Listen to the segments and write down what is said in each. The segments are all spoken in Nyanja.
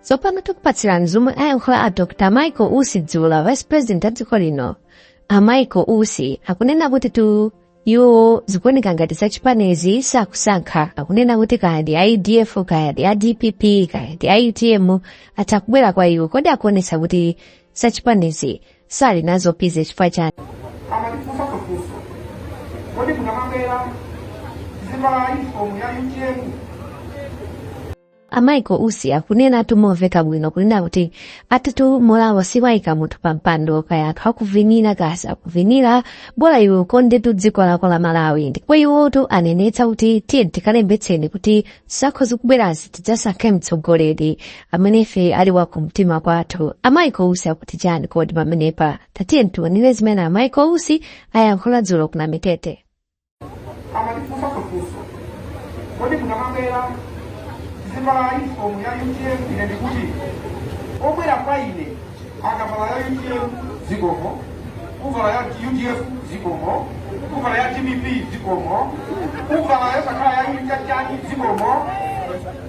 Tsopano tikupatsirani zomwe ayankhula a Dr. Michael Usi dzulo, Vice President a dziko lino. A Michael Usi akunena kuti tu iwo zikuoneka ngati zachipanizi sakusankha akunena kuti kaya ndi audf kaya ndi adpp kaya ndi autm atha kubwera kwa iwo kodi akuonetsa kuti zachipanizi sali nazo bize chifukwa chani amandifunsa funso kodi mukamabwera muzivala yunifomu ya utm a michael usi akunenatu momveka bwino kunena kuti atitu morale siyiika munthu pa mpando kaya anthu akuvinira kaya sakuvinira bola iwe ukondetu dziko lako la malawi ndipo iwotu anenetsa kuti tiyeni tikalembetseni kuti zisankho zikubwerazi tidzasankhe mtsogoleri amene ife ali wa kumtima kwathu a michael usi akuti chani kodi pamenepa tatiye tiwonere zimene a michael usi ayankhula dzulo ku namitete amandifunsa funso kodi mukamabwera muzivala uniform ya utm ine ndikuti obwera kwa ine akavala ya utm zikomo kuvala ya udf zikomo kuvala ya dpp zikomo kuvala yosakhala ya chipani zikomo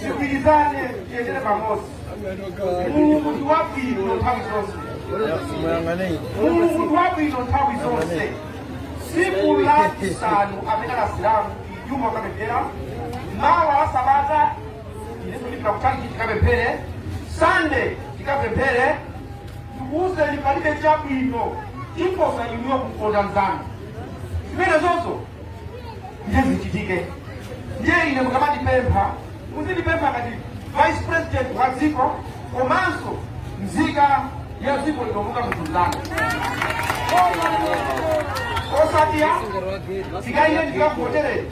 tigwirizane tiyendere pamodzi mulungu ndi wabwino nthawi zonse mulungu ndi wabwino nthawi zonse tsiku la chisanu amene ndi asilamu juma kapemphereni mawa wa sabata ineso ndipita kutaniki tikapemphere sande tikapemphere tikuuzeni palibe chabwino choposa inuyo kukonda mzanu zimenezo ndiye zichitike ndiye ine mukamandipempha muzindipempha ngati vice president wa dziko komanso mzika ya dziko lino munthu mzanu osati iyayi ndikakuvotereni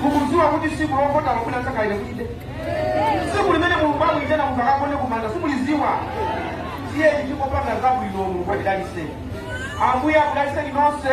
mukudziwa kuti tsiku lovota lomuna nsakaile kuti tsiku limene mulungu akuitena munthu akagone kumanda simulidziwa tiyeni tingopanga zabwino mulungu atidalitse ambuye akudalitseni nonse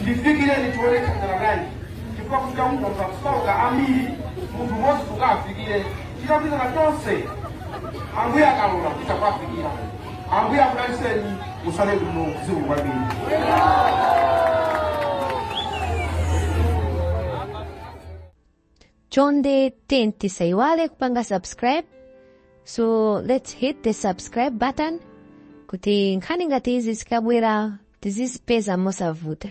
ndifikireniko tione thandala bwanji chifukwa kuchita kungonga kusauka ambiri munthu umodzi tukafikire chitapitana tonse ambuye akalola kuchita kuafikira ambuye akudalitseni mutsale kuno zikomo kwambiri chonde tiyeni tisaiwale kupanga subscribe so let's hit the subscribe button kuti nkhani ngati izi zikabwera tizizipeza mosavuta